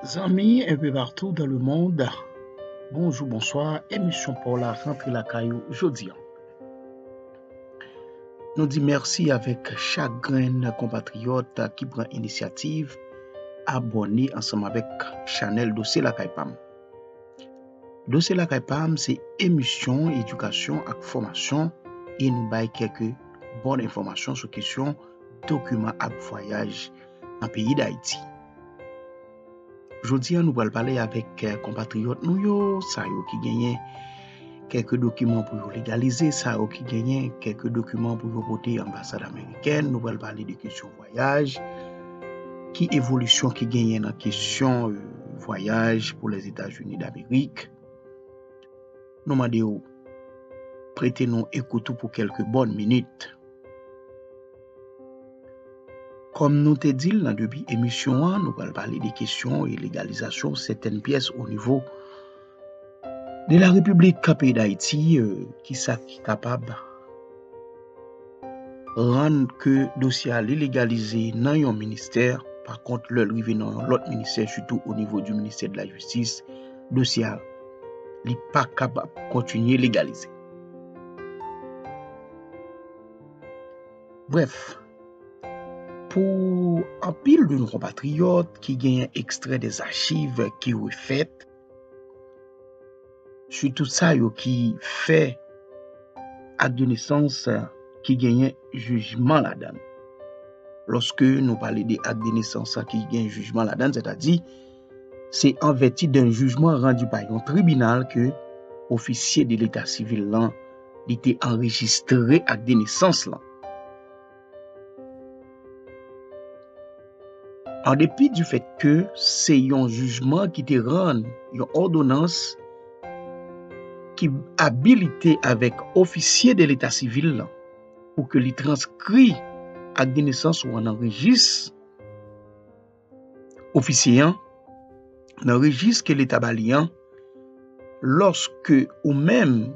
Zanmi un peu partout dans le monde, bonjou, bonswa, emisyon pa w la rantre lakay ou jodi an. Nou di mèsi avèk chak grenn konpatriyòt ki pran inisyativ abòne ansanm avèk chanèl Dosye Lakay Pam. Dosye Lakay pa m se emisyon edikasyon ak fòmasyon e nou bay kèk bon enfòmasyon sou kesyon dokiman ak vwayaj nan peyi Dayiti. Jodi a nou pral pale avèk konpatriyòt nou yo, sa yo ki genyen kèk dokiman pou yo legalize, sa yo ki genyen kèk dokiman pou yo pote anbasad amerikèn, nou pral pale de kesyon. Vwayaj, Ki evolisyon ki genyen nan kesyon vwayaj pou Lèzetazini Damerik? Nou mande w prete nou ekout ou pou kèlke bòn minit. Kòm nou te di l nan debi emisyon an, nou pral pale de kesyon e legalizasyon sètèn pyès onivo. De la République ka peyi d'Haïti, ki sa ki kapab rann ke dosye a li legalize nan yon ministè, pa kont lè li rive nan yon lòt ministè, sitou o nivo di ministè de la jistis, dosye a li pa kapab kontinye legalize. Brèf, pou anpil de nou konpatriyòt ki genyen ekstrè de zachiv ki refèt, Sitou sa yo ki fè ak de nesans ki genyen jijman ladan. Lòske nou pale de ak de nesans ki gen jijman ladan, sè ta di, se an vèti de jijman randi pa yon tribinal ke ofisye de leta sivil lan li te anrejistre ak de nesans lan. An depi di fèt ke se yon jijman ki te rann yon òdonans ki abilite avèk ofisye de leta sivil lan pou ke li transkri ak de nesans ou an nan rejis, Ofisye an, nan rejis ke leta ba li an, lòske ou menm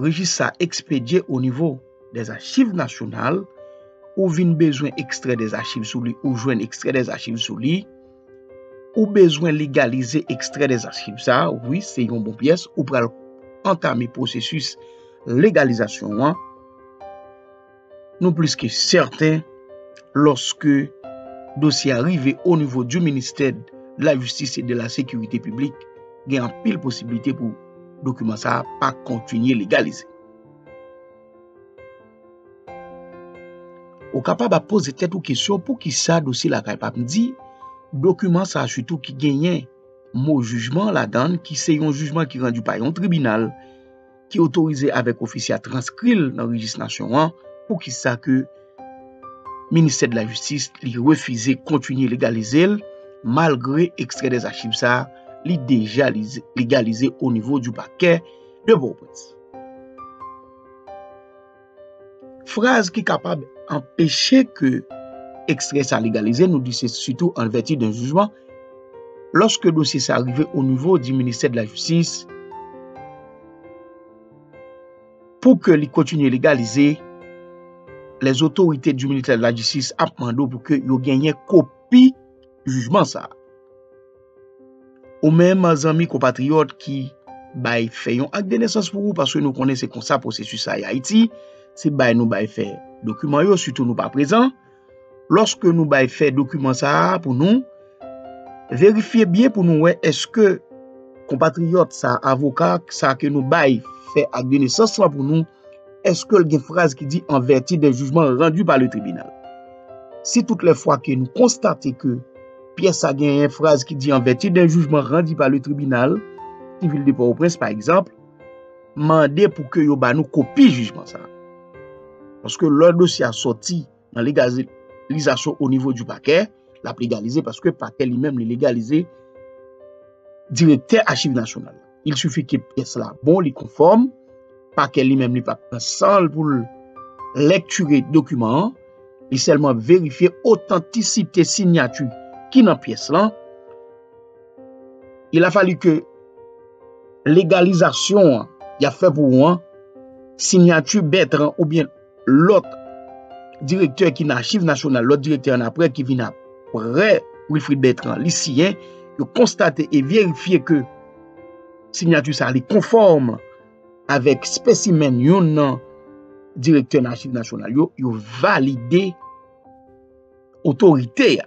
rejis sa ekspedye o nivo dè achiv nasyonal, ou vin bezwen ekstrè dè achiv sou li, ou jwenn ekstrè dè achiv sou li, ou bezwen legalize ekstrè dè achiv sa, wi, se yon bon pyès, ou pral antame pwosesis legalizasyon an. Nou plis ke sèten, lòske dosye a rive o nivo di ministè de la jistis e de la sekirite piblik, gen anpil posibilite pou dokiman sa a pa kontinye legalize. Ou kapab ap poze tèt ou kesyon pou ki sa dosye lakay pa bndi, dokiman sa a sitou ki genyen mo jijman ladan, ki se yon jijman ki randi pa yon tribinal, ki otorize avèk ofisye a transkri l nan rejis nasyon an, poukisa ke ministè de la jistis li refize kontinye legalize l malgre ekstrè dè zachiv sa li deja legalize o nivo di pakè de Pòtoprens. Fraz ki kapab anpeche ke ekstrè sa legalize, nou di se sitou an vèti de jijman, lòske dosye sa rive o nivo di ministè de la jistis, pou ke li kontinye legalize, lè zotorite di ministè de la jistis ap mande ou pou ke yo genyen kopi jijman sa. Ou menm zanmi konpatriyòt ki bay fè yon ak de nesans pou ou paske nou konnen se konsa pwosesis sa ya Ayiti, se bay nou bay fè dokiman yo sitou nou pa prezan. Lòske nou bay fè dokiman sa a pou nou, verifye byen pou nou wè eske konpatriyòt sa a, avoka sa a ke nou bay fè ak de nesans lan pou nou, eske l gen fraz ki di an vèti de jijman randi pa le tribinal. Si tout lè fwa ke nou konstate ke. Pyès sa genyen fraz ki di an vèti de jijman randi pa le tribinal sivil de Pòtoprens pa egzanp, mande pou ke yo ba nou kopi jijman sa. Paske lò dosye a sòti nan legalizasyon o nivo di pakè, l ap legalize paske pakè li menm li legalize direktè achiv nasyonal la. il sufi ke pyès la bon, li konfòm, pakè li menm li pa pran san l pou l lèktire dokiman an, li sèlman verifye otantisite sinyati ki nan pyès lan, il a fallu ke legalizasyon an y ap fè pou ou an, sinyati Bètran oubyen. lòt direktè ki nan Achiv Nasyonal, lòt direktè an apre ki vin apre Wilfrid Bertrand, li siyen, yo konstate e verifye ke sinyati sa li konfòm avèk spesimen yon nan direktè nan Achiv Nasyonal yo, yo valide otorite a.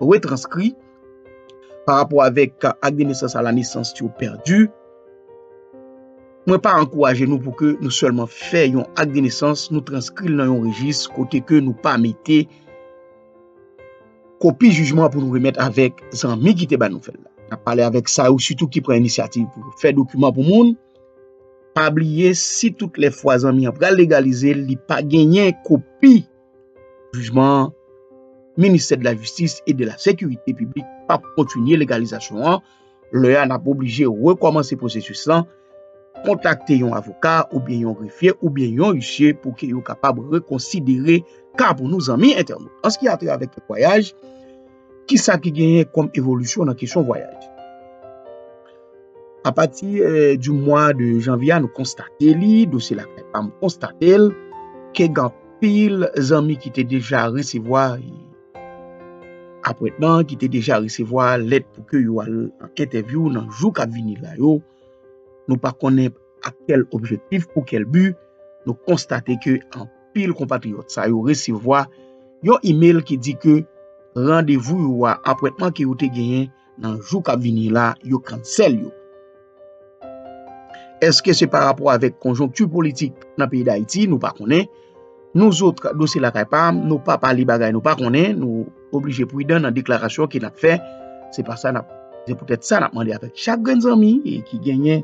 retranskri pa rapò avèk ak de nesans a la nesans yo pèdi, mwen pa ankouraje nou pou ke nou sèlman fè yon ak de nesans, nou transkri l nan yon rejis kote ke nou pa mete kopi jijman pou nou remèt avèk zanmi ki te ba nou fè l la. N ap pale avèk sa yo sitou ki pran inisyativ pou yo fè dokiman pou moun, pa bliye si tout lè fwa zanmi an pral legalize l, li pa genyen kopi. Jijman an, Ministè de la Jistis et de la Sécurité Publique pap kontinye legalizasyon an, lè a nap oblije rekòmanse pwosesis lan, kontakte yon avoka oubyen yon grefye oubyen yon isye pou ke yo kapab rekonsidere ka pou nou zanmi entènot. An se ki a trait avèk temwayaj, Ki sa ki genyen kòm evolisyon nan kesyon vwayaj? A pati di mwa de janvye a nou konstate li, dosye lakay pa m konstate l, ke gen anpil zanmi ki te deja resevwa apwentman, ki te deja resevwa lèt pou ke yo al an entèvyou nan jou k ap vini la yo. Nou pa konnen ak kèl objektif, pou kèl bi, nou konstate ke anpil. anpil konpatriyòt sa yo resevwa yon email ki di ke randevou yo a, apwentman ke yo te genyen nan jou kap vini la, yo kansèl yo. Eske se pa rapò avèk konjonkti politik nan peyi Dayiti, nou pa konnen. Nou zot, nou se lakay pa, nou pa pale bagay nou pa konnen, nou oblije pwidan nan deklarasyon ke nap fè. Se pa sa nap, se poutèt sa nap mande avèk chak grenn zanmi ki genyen.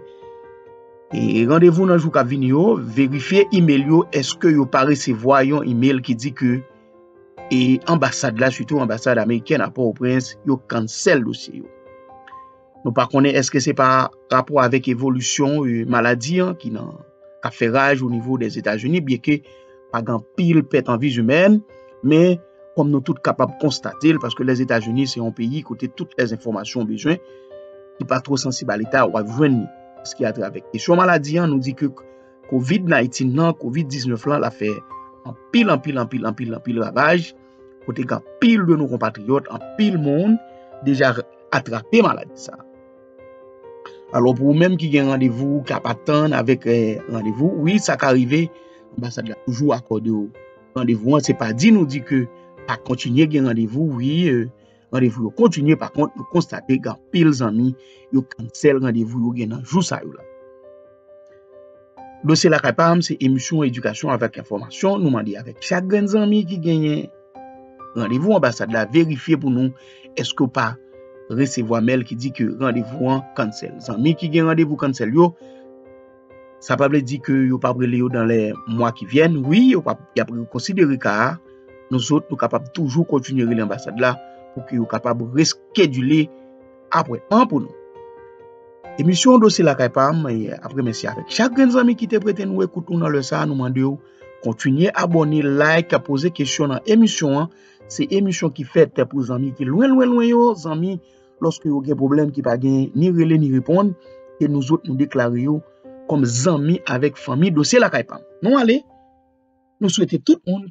Randevou nan jou kap vini yo, verifye email yo eske yo pa resevwa yon email ki di ke e anbasad la sitou anbasad amerikèn a Port-au-Prince yo cancel dosye yo. Nou pa konnen eske se pa rapò avèk evolisyon maladi an ki nan kap fè raj o nivo des Etats-Unis byen ke pa gen anpil pèt an vies imèn, men kòm nou tout kapab konstate l, paske Lèzetazini se yon peyi kote tout lè enfòmasyon ou bezwen ki pa two sansib a leta wap jwenn li, paske atravè kesyon maladi an nou di ke covid 19 nan, covid 19 lan la fè anpil anpil anpil anpil anpil ravaj, kote gen anpil de nou konpatriyòt, anpil moun deja atrape maladi sa. Alò pou ou menm ki gen randevou ou kap atann avèk randevou wi sa ka rive anbasad la toujou akòde ou randevou an se pa di nou di ke pa kontinye gen randevou wi randevou yo kontinye pa kont nou konstate gen anpil zanmi yo kansèl randevou yo gen nan jou sa yo la Dosye lakay pa m se emisyon edikasyon avèk enfòmasyon nou mande avèk chak grenn zanmi ki genyen randevou anbasad la verifye pou nou eske w pa resevwa mèl ki di ke randevou an kansèl. Zanmi ki gen randevou kansèl yo, sa pa vle di ke yo pap rele yo dan lè mwa ki vyèn, wi yo pap y ap rekonsidere ka a, nou zòt nou kapab toujou kontinye rele anbasad la pou ke yo kapab reskedile. Apre 1 pou nou. Emisyon Dosye Lakay pa m ap remèsye avèk chak grenn zanmi ki te prete nou ekout nou nan lè sa a. Nou mande w kontinye abòne, like, poze kesyon nan emisyon an. Se emisyon ki fèt pou zanmi ki lwen lwen lwen yo, zanmi lòske yo gen pwoblèm ki pa gen ni rele ni reponn ke nou zòt nou deklare yo kòm zanmi avèk fanmi Dosye Lakay pa m. Nou ale, nou swete tout moun.